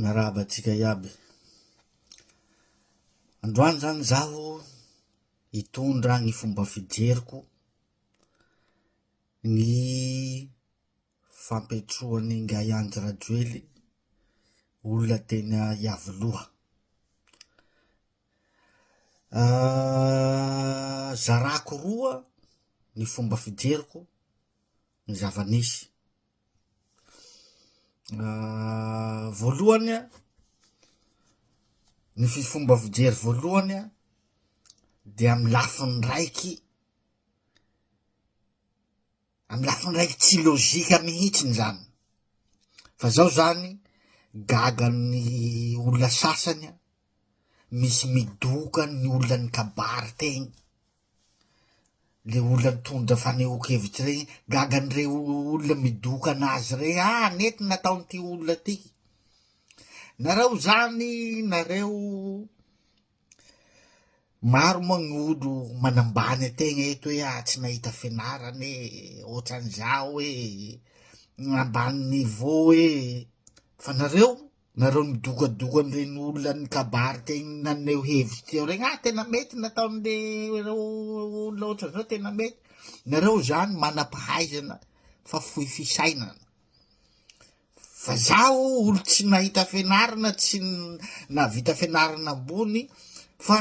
Miarahaba antsika iaby. Androany zany zaho hitondra ny fomba fijeriko ny fampiatroan'ny ngahy Andry Rajoely olona teny Iavoloha. Ah, zarako roa ny fomba fijeriko ny zava-nisy voalohany a ny fifomba fijery voalohany a de amy lafiny raiky amy lafiny raiky tsy lozika mihitsiny zany fa zao zany gaga ny olona sasany a misy midoka ny olona ny kabary tegny le olona nitondra fanehoan-kevitra rey, gaga an'irey olona midoka an'azy rey, ah anie ty nataon'ity olona ty, nareo zany nareo maro moa ny olo manambany an-tegna eto hoe ah tsy nahita fianarana e, ohatran'izao e, ambany niveau e, fa nareo Nareo midokadoka an'ireny olan'ny kabary te naneho hevitra teo regny, ah tena mety nataon'le reo olona ohatran'izao tena mety, nareo zany manam-pahaizana fa fohy fisainana, fa zaho olo tsy nahita fianarana tsy nahavita fianarana ambony fa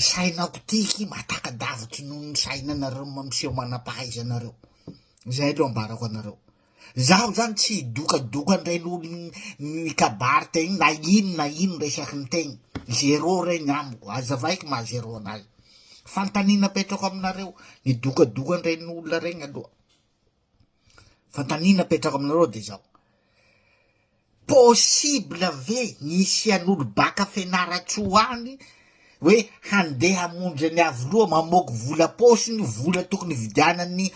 sainako tiky matakadavitry noho ny sainanareo mampiseho manam-pahaizanareo, zay aloha ambarako anareo. Zaho zany tsy hidokadoka andray lolon'i mikabary tegna na ino na ino resaky ny tegna, zéro regny amiko, azavaiko maha zéro anazy, fantanina apetrako aminareo, ny dokadoka an-drain'olona regny aloha, fantanina apetrako aminareo de zao. Possible ve ny hisian'olo baka Fianarantsoa any hoe handeha hamonjy an'i Iavoloha mamoaky vola paosiny, vola tokony hividianany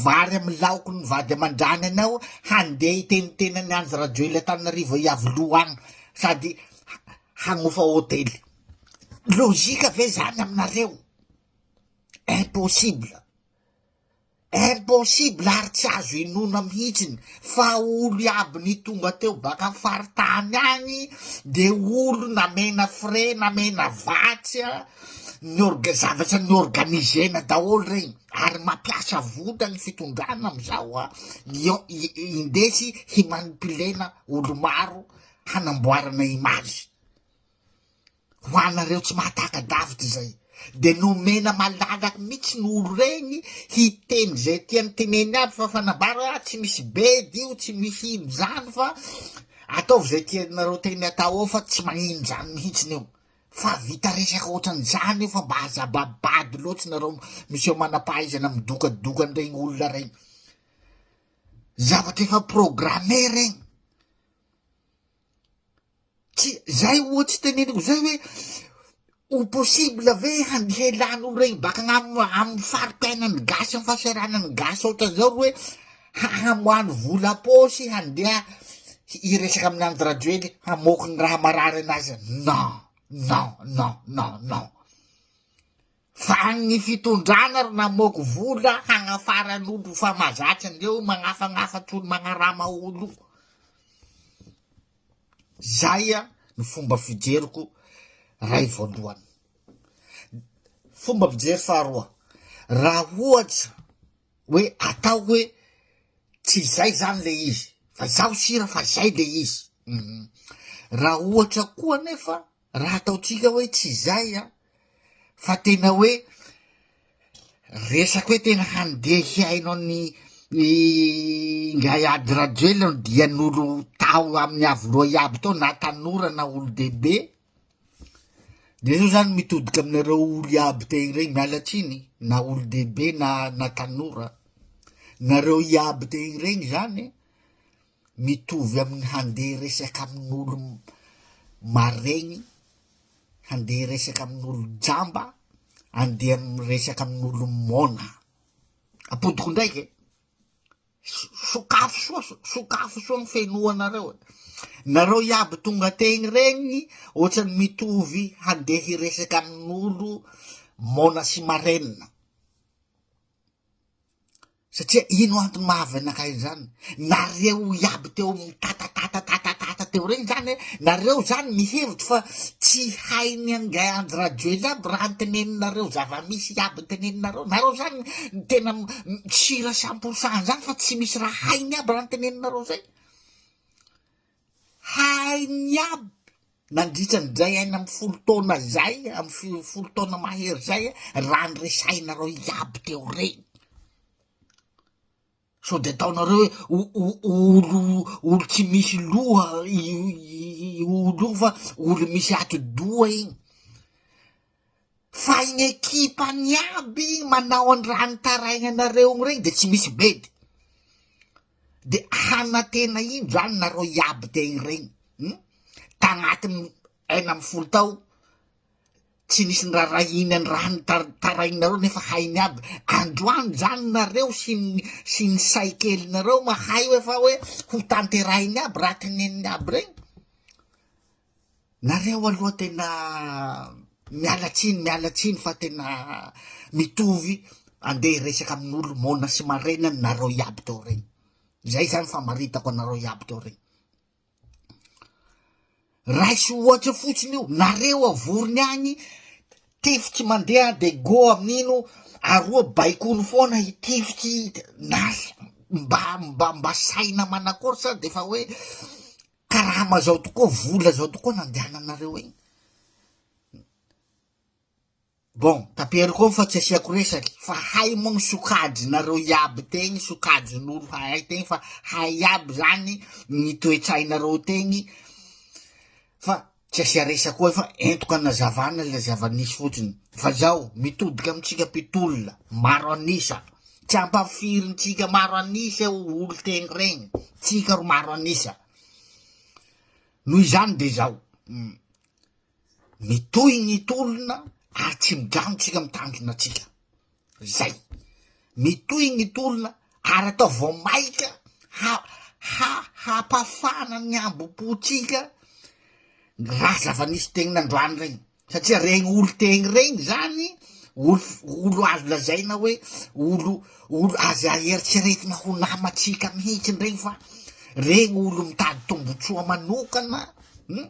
vary amin'ny laoky ny vady aman-drany anao, handeha hiteniteny an'i Andry Rajoelina Antananarivo Iavoloha any sady hanofa hotely. Logika ve zany aminareo? Impossible. Impossible ary tsy azo inoana mihitsiny fa olo iaby nitonga teo baka faritany agny de olo namena frais namena vatsy a ny orga zavatra ny organizena daholo regny ary mapiasa vola ny fitondrana amizao a indesy himanipulena olo maro hanamboarana image. Ho anareo tsy mahataka-davitra izay, dia nomena malalaky mihitsy ny olo regny hiteny izay tiany teneny aby fa fanambara hoe ah tsy misy bedy io, tsy misy ino izany fa ataovy izay tianareo teny atao ao fa tsy magnino izany mihitsiny io. Fa vita resaka ohatran'izany io fa mba aza babado loatra nareo miseho manam-pahaizana midokadoka an'iregny olona regny. Zavatra efa programme regny. Tsy zay oa tsy teneniko zay hoe ho possible ve handray lany ho regny baka agn'am amin'ny fari-piainan'ny gasy amin'ny fahasahiranan'ny gasy ohatran'izao ry hoe ha- hamoahy vola am-paosy handeha hi- hiresaka amin'Andry Rajoely hamoaky ny raha marary an'azy, non, non, non, non, non. Fa ny fitondrana ry namoako vola hagnafarany olo fa mazatra ndreo magnafagnafa tolo magnarama olo zay a ny fomba fijeriko ray voalohany fomba fijery faharoa raha ohatsa hoe atao hoe tsy zay zany le izy fa zaho sira fa zay le izy raha ohatra koa nefa Raha ataontsika hoe tsy izay an, fa tena hoe resaka hoe tena handeha hihaino an'i Ingahy Ady Rajoelina ny dian'olo tao amin'ny Avoloha iaby tao na tanora na olon-dehibe, de zao zany mitodika aminareo olo iaby teny reny, miala tsiny, na olon-dehibe na na tanora, nareo iaby teny reny zany. mitovy amin'ny handeha resaka amin'olo maregny, handeha resaka amin'olo jamba, andeha miresaka amin'olo mona. Apodiko ndraiky e, sokafo soa, sokafo soa ny fenoanareo e, nareo iaby tonga tegny regny ohatrany mitovy handeha hiresaka amin'olo mona sy marenina. satria ino antony maha avy anakay izany nareo iaby teo amin'ny tatatatatata teo reny zany hoe nareo zany mihevitra fa tsy hay ny angay andry rajoely aby raha ny teneninareo zava-misy iaby teneninareo nareo zany tena sira samporsan zany fa tsy misy raha hainy aby raha ny teneninareo zay hainy aby nandritra an'izay enina amby folo taona izay am folo taona mahery zay raha ny resahinareo iaby teo reny so de ataonareo hoe olo olo tsy misy loha i olo io fa olo misy ati-doha igny Fa iny ekipany iaby manao an raha nitarainanareo iny reny de tsy misy bedy, de hanantena ino zany nareo iaby te hireny hum, tagnaty enina amby folo tao tsy nisy nirarahiany an raha nitarainareo nefa hainy aby, androany zany nareo sy ny sy ny say kelinareo mahay hoe fa hoe ho tanterahiny aby raha teneniny aby reny, Nareo aloha tena miala tsiny miala tsiny fa tena mitovy andeha hiresaka amin'olo mona sy marena nareo iaby teo regny zay zany famaritako anareo iaby teo regny raisy ohatra fotsiny io nareo avorony agny tifiky mandeha de go amin'ino aroa baikony foana hitifiky na mba mba mba saina manakory sa de fa hoe Karama zao tokoa, vola zao tokoa nandehananareo eny. Bon, taperiko eo fa tsy asiako resaky fa hay moa ny sokajinareo iaby tegny, sokajin'olo hahay tegny fa hay iaby zany ny toetsainareo tegny fa Tsy asia resaka koa fa entoka anazavana ilay zava-nisy fotsiny fa izao mitodika amintsika mpitolona maro an'isa. Tsy ampahafirintsika maro an'isa eo olon-teny regny, tsika ro maro an'isa. Noho izany dia izao, hmm, mitohy ny tolona ary tsy mijanona tsika mitandrina tsika. Izay. Mitohy ny tolona ary atao vao maika ha- ha- hampafana ny hambom-pontsika raha zava-nisy tegny nandroany regny, satria regny olon-tegny regny zany olo- olo azo lazaina hoe olo olo azo eritreretina ho namantsika mihitsy ndregny fa regny olo mitady tombotsoa manokana, um.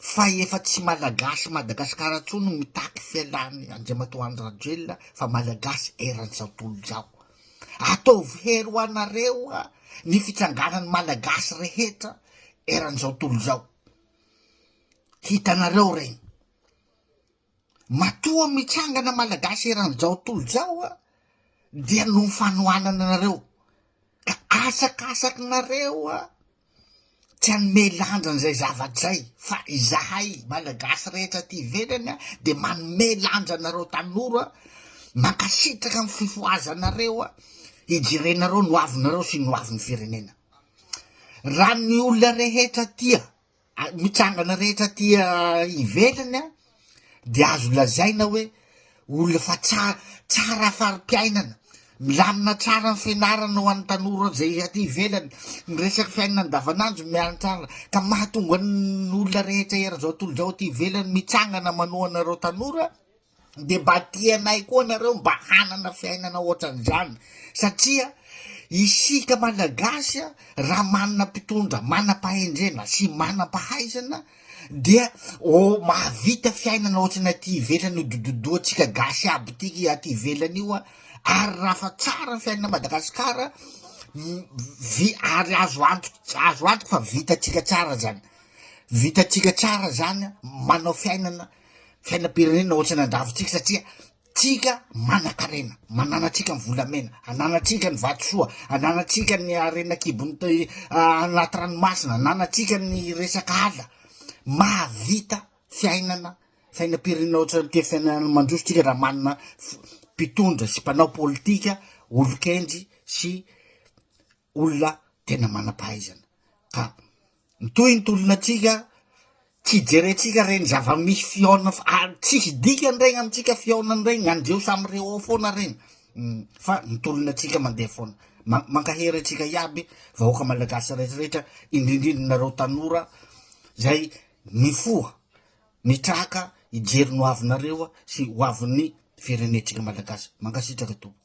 fa efa tsy malagasy Madagascar intsony no mitaky fialan'i Andriamatoa Andry Rajoelina fa malagasy eran'izao tontolo izao. Ataovy hery ho anareo ny fitsanganan'ny malagasy rehetra eran'izao tontolo izao. Hitanareo regny. Matoa mitsangana Malagasy eran Jao Tolo Jao a dia noho ny fanohanana anareo ka asakasaky nareo a tsy hanome lanja an'izay zavatra zay fa izahay Malagasy rehetra aty ivelany a dia manome lanja anareo tanora a mankasitraka amin'ny fifohazanareo a hijerenareo ny hoavinareo sy ny hoavin'ny firenena raha ny olona rehetra tia mitsangana rehetra aty ivelany an, de azo lazaina hoe olona efa tsa- tsara fari-piainana, milamina tsara ny fianarana ho an'ny tanora zay aty ivelany, ny resaky fiainana andavanandro miantsara, ka mahatonga an' olona rehetra eran'izao tontolo izao aty ivelany mitsangana manohana ireo tanora. dia mba tia anay koa nareo mba hanana fiainana ohatran'izany satria isika malagasy a raha manana mpitondra manam-pahendrena sy manam-pahaizana dia o mahavita fiainana ohatrany aty ivelany io dododoantsika gasy aby ity aty ivelany io a ary raha fa tsara ny fiainana madagasikara m- vi ary azo anto azo antoka fa vitantsika tsara zany vitantsika tsara zany a manao fiainana fiainam-pirenena ohatrany an-dravintsika satria tsika manan-karena mananatsika ny volamena ananatsika ny vatosoa ananatsika ny arena kibony anaty ranomasina ananatsika ny resaka ala mahavita fiainana fiainam-pirenena ohatrany te fiainana mandroso tsika raha manana mpitondra sy mpanao politika olon-kendry sy olona tena manam-pahaizana ka mitohy ny tolonantsika tsy jerentsika reny zava-misy fihaonana fa ary tsisy dikany regny amintsika fihaonana regny andreo samy re ao foana regny Mm, fa ny tolonantsika mandeha foana Ma- mankahery antsika iaby vahoaka malagasy rehetrarehetra indrindrindra nareo tanora zay mifoha mitraka hijery ny ho avinareo sy ho avin'ny firenentsika malagasy mankasitraka tompoko